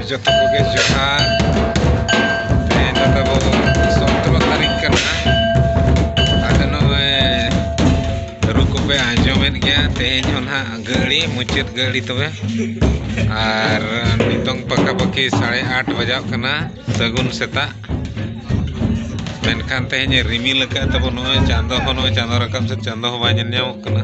ᱡᱚᱛᱚ ᱠᱚᱜᱮ ᱡᱚᱦᱟᱨ ᱛᱮᱦᱮᱧ ᱫᱚ ᱛᱟᱵᱚ ᱥᱚᱛᱨᱚ ᱛᱟᱹᱨᱤᱠᱷ ᱠᱟᱱᱟ ᱟᱫᱚ ᱱᱚᱜᱼᱚᱭ ᱨᱩ ᱠᱚᱯᱮ ᱟᱸᱡᱚᱢᱮᱫ ᱜᱮᱭᱟ ᱛᱮᱦᱮᱧ ᱦᱚᱸ ᱱᱟᱦᱟᱜ ᱜᱟᱹᱲᱤ ᱢᱩᱪᱟᱹᱫ ᱜᱟᱹᱲᱤ ᱛᱚᱵᱮ ᱟᱨ ᱱᱤᱛᱚᱝ ᱯᱟᱠᱟᱯᱟᱠᱤ ᱥᱟᱲᱮ ᱟᱴ ᱵᱟᱡᱟᱜ ᱠᱟᱱᱟ ᱥᱟᱹᱜᱩᱱ ᱥᱮᱛᱟᱜ ᱢᱮᱱᱠᱷᱟᱱ ᱛᱮᱦᱮᱧ ᱨᱤᱢᱤᱞ ᱟᱠᱟᱫ ᱛᱟᱵᱚ ᱱᱚᱜᱼᱚᱭ ᱪᱟᱸᱫᱚ ᱦᱚᱸ ᱱᱚᱜᱼᱚᱭ ᱪᱟᱸᱫᱚ ᱨᱟᱠᱟᱵ ᱥᱮ ᱪᱟᱸᱫᱚ ᱦᱚᱸ ᱵᱟᱭ ᱧᱮᱞ ᱧᱟᱢᱚᱜ ᱠᱟᱱᱟ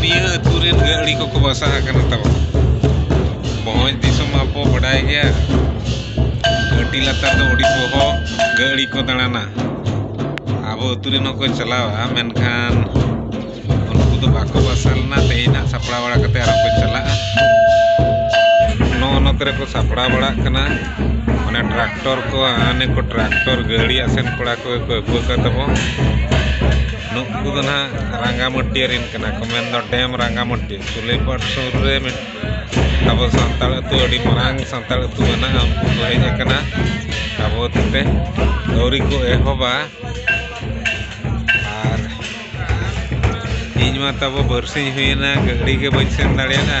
ᱱᱤᱭᱟᱹ ᱟᱹᱛᱩ ᱨᱮᱱ ᱜᱟᱹᱲᱤ ᱠᱚᱠᱚ ᱵᱟᱥᱟ ᱟᱠᱟᱱᱟ ᱛᱟᱵᱚ ᱵᱷᱚᱸᱡᱽ ᱫᱤᱥᱚᱢ ᱢᱟᱵᱚ ᱵᱟᱰᱟᱭ ᱜᱮᱭᱟ ᱟᱹᱰᱤ ᱞᱟᱛᱟᱨ ᱫᱚ ᱟᱹᱰᱤ ᱵᱚᱦᱚᱜ ᱜᱟᱹᱲᱤ ᱠᱚ ᱫᱟᱬᱟᱱᱟ ᱟᱵᱚ ᱟᱹᱛᱩ ᱨᱮᱱ ᱦᱚᱸᱠᱚ ᱪᱟᱞᱟᱣᱟ ᱢᱮᱱᱠᱷᱟᱱ ᱩᱱᱠᱩ ᱫᱚ ᱵᱟᱠᱚ ᱵᱟᱥᱟ ᱞᱮᱱᱟ ᱛᱮᱦᱮᱧ ᱦᱟᱸᱜ ᱥᱟᱯᱲᱟᱣ ᱵᱟᱲᱟ ᱠᱟᱛᱮ ᱟᱨᱚ ᱠᱚ ᱪᱟᱞᱟᱜᱼᱟ ᱱᱚᱜᱼᱚ ᱱᱚᱛᱮ ᱨᱮᱠᱚ ᱥᱟᱯᱲᱟᱣ ᱵᱟᱲᱟᱜ ᱠᱟᱱᱟ ᱢᱟᱱᱮ ᱴᱨᱟᱠᱴᱚᱨ ᱠᱚ ᱦᱟᱱᱮ ᱠᱚ ᱴᱨᱟᱠᱴᱚᱨ ᱜᱟᱹᱲᱤ ᱟᱥᱮᱱ ᱠᱚᱲᱟ ᱠᱚᱜᱮ ᱠᱚ ᱟᱹᱜᱩ ᱟᱠᱟᱫ ᱛᱟᱵᱚ ᱱᱩᱠᱩ ᱫᱚ ᱱᱟᱦᱟᱜ ᱨᱟᱸᱜᱟᱢᱟᱹᱴᱭᱟᱹ ᱨᱮᱱ ᱠᱟᱱᱟ ᱠᱚ ᱢᱮᱱᱫᱚ ᱰᱮᱢ ᱨᱟᱸᱜᱟᱢᱟᱹᱴᱭᱟᱹ ᱥᱩᱞᱟᱹᱭᱯᱟᱲ ᱥᱩᱨ ᱨᱮ ᱢᱤᱫ ᱟᱵᱚ ᱥᱟᱱᱛᱟᱲ ᱟᱹᱛᱩ ᱟᱹᱰᱤ ᱢᱟᱨᱟᱝ ᱥᱟᱱᱛᱟᱲ ᱟᱹᱛᱩ ᱢᱮᱱᱟᱜᱼᱟ ᱩᱱᱠᱩ ᱠᱚ ᱦᱮᱡ ᱟᱠᱟᱱᱟ ᱟᱵᱚ ᱛᱮ ᱟᱹᱣᱨᱤ ᱠᱚ ᱮᱦᱚᱵᱟ ᱟᱨ ᱤᱧ ᱢᱟ ᱛᱟᱵᱚ ᱵᱟᱨᱥᱤᱧ ᱦᱩᱭᱮᱱᱟ ᱜᱟᱹᱰᱤ ᱜᱮ ᱵᱟᱹᱧ ᱥᱮᱱ ᱫᱟᱲᱮᱭᱟᱫᱟ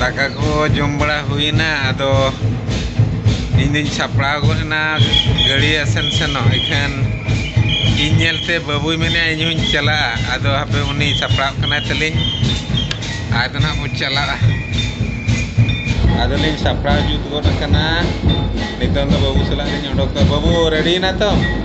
ᱫᱟᱠᱟ ᱠᱚ ᱡᱚᱢ ᱵᱟᱲᱟ ᱦᱩᱭᱱᱟ ᱟᱫᱚ ᱤᱧ ᱫᱩᱧ ᱥᱟᱯᱲᱟᱣ ᱜᱚᱫ ᱮᱱᱟ ᱜᱟᱹᱲᱤ ᱟᱥᱮᱱ ᱥᱮᱱᱚᱜ ᱤᱠᱷᱟᱹᱱ ᱤᱧ ᱧᱮᱞᱛᱮ ᱵᱟᱹᱵᱩᱭ ᱢᱮᱱᱮᱫᱼᱟ ᱤᱧ ᱦᱚᱧ ᱪᱟᱞᱟᱜᱼᱟ ᱟᱫᱚ ᱦᱟᱯᱮ ᱩᱱᱤ ᱥᱟᱯᱲᱟᱜ ᱠᱟᱱᱟᱭ ᱛᱟᱹᱞᱤᱧ ᱟᱫᱚ ᱱᱟᱦᱟᱜ ᱵᱚᱱ ᱪᱟᱞᱟᱜᱼᱟ ᱟᱫᱚᱞᱤᱧ ᱥᱟᱯᱲᱟᱣ ᱡᱩᱛ ᱜᱚᱫ ᱟᱠᱟᱱᱟ ᱱᱤᱛᱚᱝ ᱫᱚ ᱵᱟᱹᱵᱩ ᱥᱟᱞᱟᱜ ᱞᱤᱧ ᱚᱰᱚᱠᱚᱜᱼᱟ ᱵᱟᱹᱵᱩ ᱨᱮᱰᱤᱭᱮᱱᱟ ᱛᱚ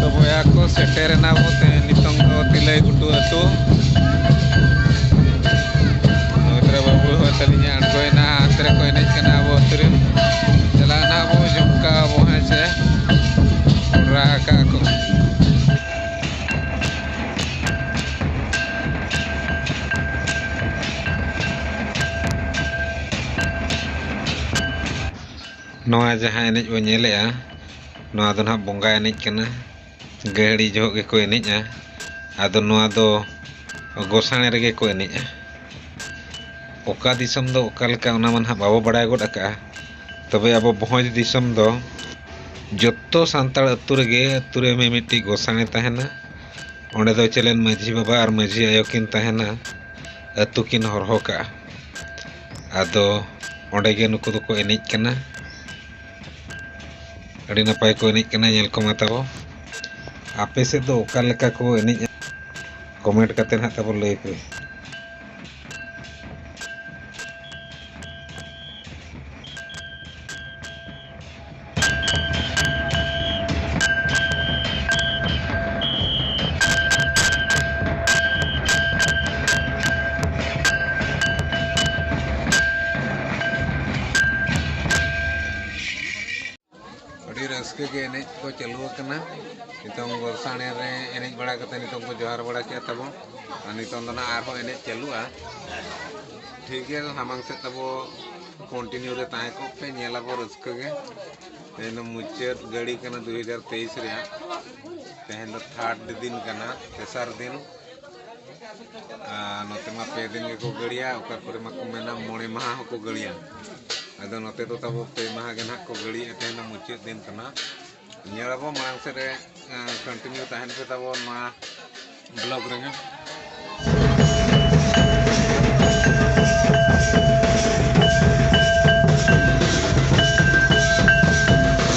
ᱛᱚ ᱵᱚᱭᱦᱟ ᱠᱚ ᱥᱮᱴᱮᱨᱮᱱᱟ ᱵᱚ ᱛᱮᱦᱮᱧ ᱱᱤᱛᱚᱝ ᱫᱚ ᱛᱤᱞᱟᱹᱭ ᱜᱷᱩᱴᱩ ᱟᱹᱛᱩ ᱱᱚᱛᱨᱮ ᱵᱟᱹᱵᱩ ᱦᱚᱸ ᱛᱟᱹᱞᱤᱧᱮ ᱟᱬᱜᱚᱭᱮᱱᱟ ᱦᱟᱱᱛᱮ ᱨᱮᱠᱚ ᱮᱱᱮᱡ ᱠᱟᱱᱟ ᱟᱵᱚ ᱟᱹᱛᱩ ᱨᱮᱱ ᱪᱟᱞᱟᱜ ᱱᱟᱜ ᱵᱚ ᱡᱷᱩᱢᱠᱟ ᱟᱵᱚ ᱦᱮᱸ ᱪᱮ ᱠᱚᱰᱨᱟ ᱟᱠᱟᱜ ᱠᱚ ᱱᱚᱣᱟ ᱡᱟᱦᱟᱸ ᱮᱱᱮᱡ ᱵᱚᱱ ᱧᱮᱞᱮᱜᱼᱟ ᱱᱚᱣᱟ ᱫᱚ ᱱᱟᱦᱟᱜ ᱵᱚᱸᱜᱟ ᱮᱱᱮᱡ ᱠᱟᱱᱟ ᱜᱟᱹᱦᱲᱤ ᱡᱚᱦᱚᱜ ᱜᱮᱠᱚ ᱮᱱᱮᱡᱼᱟ ᱟᱫᱚ ᱱᱚᱣᱟ ᱫᱚ ᱜᱚᱸᱥᱟᱬᱮ ᱨᱮᱜᱮ ᱠᱚ ᱮᱱᱮᱡᱼᱟ ᱚᱠᱟ ᱫᱤᱥᱚᱢ ᱫᱚ ᱚᱠᱟ ᱞᱮᱠᱟ ᱚᱱᱟ ᱢᱟ ᱱᱟᱦᱟᱜ ᱵᱟᱵᱚ ᱵᱟᱲᱟᱭ ᱜᱚᱫ ᱟᱠᱟᱫᱼᱟ ᱛᱚᱵᱮ ᱟᱵᱚ ᱵᱷᱚᱸᱡᱽ ᱫᱤᱥᱚᱢ ᱫᱚ ᱡᱚᱛᱚ ᱥᱟᱱᱛᱟᱲ ᱟᱹᱛᱩ ᱨᱮᱜᱮ ᱟᱹᱛᱩ ᱨᱮ ᱢᱤᱢᱤᱫᱴᱤᱡ ᱜᱚᱸᱥᱟᱬᱮ ᱛᱟᱦᱮᱱᱟ ᱚᱸᱰᱮ ᱫᱚ ᱪᱮᱞᱮᱱ ᱢᱟᱺᱡᱷᱤ ᱵᱟᱵᱟ ᱟᱨ ᱢᱟᱺᱡᱷᱤ ᱟᱭᱳ ᱠᱤᱱ ᱛᱟᱦᱮᱱᱟ ᱟᱹᱛᱩ ᱠᱤᱱ ᱦᱚᱨᱦᱚ ᱠᱟᱜᱼᱟ ᱟᱫᱚ ᱚᱸᱰᱮ ᱜᱮ ᱱᱩᱠᱩ ᱫᱚᱠᱚ ᱮᱱᱮᱡ ᱠᱟᱱᱟ ᱟᱹᱰᱤ ᱱᱟᱯᱟᱭ ᱠᱚ ᱮᱱᱮᱡ ᱠᱟᱱᱟ ᱧᱮᱞ ᱠᱚᱢᱟ ᱛᱟᱵᱚ ᱟᱯᱮ ᱥᱮᱫ ᱫᱚ ᱚᱠᱟ ᱞᱮᱠᱟ ᱠᱚ ᱮᱱᱮᱡᱼᱟ ᱠᱚᱢᱮᱱᱴ ᱠᱟᱛᱮ ᱱᱟᱦᱟᱜ ᱛᱟᱵᱚ ᱞᱟᱹᱭ ᱯᱮ ᱟᱹᱰᱤ ᱨᱟᱹᱥᱠᱟᱹ ᱜᱮ ᱮᱱᱮᱡ ᱠᱚ ᱪᱟᱹᱞᱩ ᱟᱠᱟᱱᱟ ᱱᱤᱛᱚᱝ ᱜᱚᱞᱥᱟᱬᱮ ᱨᱮ ᱮᱱᱮᱡ ᱵᱟᱲᱟ ᱠᱟᱛᱮ ᱱᱤᱛᱚᱝ ᱠᱚ ᱡᱚᱦᱟᱨ ᱵᱟᱲᱟ ᱠᱮᱫ ᱛᱟᱵᱚ ᱟᱨ ᱱᱤᱛᱚᱝ ᱫᱚ ᱱᱟᱜ ᱟᱨᱦᱚᱸ ᱮᱱᱮᱡ ᱪᱟᱹᱞᱩᱜᱼᱟ ᱴᱷᱤᱠ ᱜᱮᱭᱟ ᱥᱟᱢᱟᱝ ᱥᱮᱫ ᱛᱟᱵᱚ ᱠᱚᱱᱴᱤᱱᱤᱭᱩ ᱨᱮ ᱛᱟᱦᱮᱸ ᱠᱚᱜ ᱯᱮ ᱧᱮᱞ ᱟᱵᱚ ᱨᱟᱹᱥᱠᱟᱹ ᱜᱮ ᱛᱮᱦᱮᱧ ᱫᱚ ᱢᱩᱪᱟᱹᱫ ᱜᱟᱹᱲᱤ ᱠᱟᱱᱟ ᱫᱩ ᱦᱟᱡᱟᱨ ᱛᱮᱭᱤᱥ ᱨᱮᱭᱟᱜ ᱛᱮᱦᱮᱧ ᱫᱚ ᱛᱷᱟᱨᱰ ᱫᱤᱱ ᱠᱟᱱᱟ ᱛᱮᱥᱟᱨ ᱫᱤᱱ ᱱᱚᱛᱮ ᱢᱟ ᱯᱮ ᱫᱤᱱ ᱜᱮᱠᱚ ᱜᱟᱹᱲᱤᱭᱟ ᱚᱠᱟ ᱠᱚᱨᱮ ᱢᱟᱠᱚ ᱢᱮᱱᱟ ᱢᱚᱬᱮ ᱢᱟᱦᱟ ᱦᱚᱸᱠᱚ ᱜᱟᱹᱲᱤᱭᱟ ᱟᱫᱚ ᱱᱚᱛᱮ ᱫᱚ ᱛᱟᱵᱚ ᱯᱮ ᱢᱟᱦᱟ ᱜᱮ ᱱᱟᱦᱟᱜ ᱠᱚ ᱜᱟᱹᱲᱤᱭᱮᱫ ᱛᱟᱦᱮᱱ ᱫᱚ ᱢᱩᱪᱟᱹᱫ ᱫᱤᱱ ᱠᱟᱱᱟ ᱧᱮᱞᱟᱵᱚ ᱢᱟᱲᱟᱝ ᱥᱮᱫ ᱨᱮ ᱠᱚᱱᱴᱤᱱᱤᱭᱩ ᱛᱟᱦᱮᱱ ᱯᱮ ᱛᱟᱵᱚ ᱱᱚᱣᱟ ᱵᱞᱚᱜᱽ ᱨᱮᱜᱮ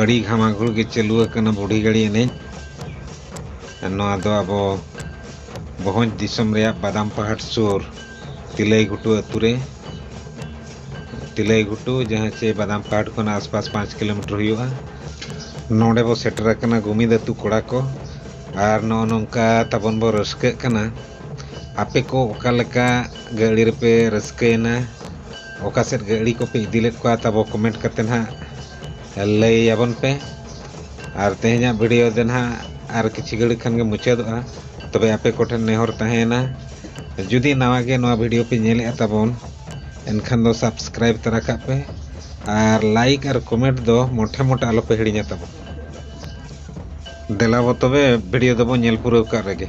ᱟᱹᱰᱤ ᱜᱷᱟᱢᱟᱜᱷᱩᱲ ᱜᱮ ᱪᱟᱹᱞᱩ ᱟᱠᱟᱱᱟ ᱵᱩᱰᱷᱤ ᱜᱟᱹᱲᱤ ᱮᱱᱮᱡ ᱱᱚᱣᱟ ᱫᱚ ᱟᱵᱚ ᱵᱷᱚᱸᱡᱽ ᱫᱤᱥᱚᱢ ᱨᱮᱭᱟᱜ ᱵᱟᱫᱟᱢ ᱯᱟᱦᱟᱲ ᱥᱩᱨ ᱛᱤᱞᱟᱹᱭ ᱜᱷᱩᱴᱩ ᱟᱹᱛᱩ ᱨᱮ ᱛᱤᱞᱟᱹᱭ ᱜᱷᱩᱴᱩ ᱡᱟᱦᱟᱸ ᱪᱮ ᱵᱟᱫᱟᱢ ᱯᱟᱦᱟᱲ ᱠᱷᱚᱱ ᱟᱥᱯᱟᱥ ᱯᱟᱸᱪ ᱠᱤᱞᱳᱢᱤᱴᱟᱨ ᱦᱩᱭᱩᱜᱼᱟ ᱱᱚᱰᱮ ᱵᱚ ᱥᱮᱴᱮᱨ ᱟᱠᱟᱱᱟ ᱜᱩᱢᱤᱫ ᱟᱹᱛᱩ ᱠᱚᱲᱟ ᱠᱚ ᱟᱨ ᱱᱚᱜᱼᱚ ᱱᱚᱝᱠᱟ ᱛᱟᱵᱚᱱ ᱵᱚ ᱨᱟᱹᱥᱠᱟᱹᱜ ᱠᱟᱱᱟ ᱟᱯᱮ ᱠᱚ ᱚᱠᱟ ᱞᱮᱠᱟ ᱜᱟᱹᱲᱤ ᱨᱮᱯᱮ ᱨᱟᱹᱥᱠᱟᱹᱭᱮᱱᱟ ᱚᱠᱟ ᱥᱮᱫ ᱜᱟᱹᱲᱤ ᱠᱚᱯᱮ ᱤᱫᱤ ᱞᱮᱫ ᱠᱚᱣᱟ ᱛᱟᱵᱚ ᱠᱚᱢᱮᱱᱴ ᱠᱟᱛᱮᱫ ᱦᱟᱸᱜ ᱞᱟᱹᱭ ᱟᱵᱚᱱ ᱯᱮ ᱟᱨ ᱛᱮᱦᱮᱧᱟᱜ ᱵᱷᱤᱰᱤᱭᱳ ᱫᱚ ᱱᱟᱦᱟᱜ ᱟᱨ ᱠᱤᱪᱷᱩ ᱜᱷᱟᱹᱲᱤᱡ ᱠᱷᱟᱱ ᱜᱮ ᱢᱩᱪᱟᱹᱫᱚᱜᱼᱟ ᱛᱚᱵᱮ ᱟᱯᱮ ᱠᱚᱴᱷᱮᱱ ᱱᱮᱦᱚᱨ ᱛᱟᱦᱮᱸᱭᱮᱱᱟ ᱡᱩᱫᱤ ᱱᱟᱣᱟ ᱜᱮ ᱱᱚᱣᱟ ᱵᱷᱤᱰᱤᱭᱳ ᱯᱮ ᱧᱮᱞᱮᱫᱼᱟ ᱛᱟᱵᱚᱱ ᱮᱱᱠᱷᱟᱱ ᱫᱚ ᱥᱟᱵᱥᱠᱨᱟᱭᱤᱵ ᱛᱟᱨᱟ ᱠᱟᱜ ᱯᱮ ᱟᱨ ᱞᱟᱭᱤᱠ ᱟᱨ ᱠᱚᱢᱮᱱᱴ ᱫᱚ ᱢᱚᱴᱷᱮ ᱢᱚᱴᱷᱮ ᱟᱞᱚᱯᱮ ᱦᱤᱲᱤᱧᱟ ᱛᱟᱵᱚᱱ ᱫᱮᱞᱟᱵᱚ ᱛᱚᱵᱮ ᱵᱷᱤᱰᱤᱭᱳ ᱫᱚᱵᱚᱱ ᱧᱮᱞ ᱯᱩᱨᱟᱹᱣ ᱠᱟᱜ ᱨᱮᱜᱮ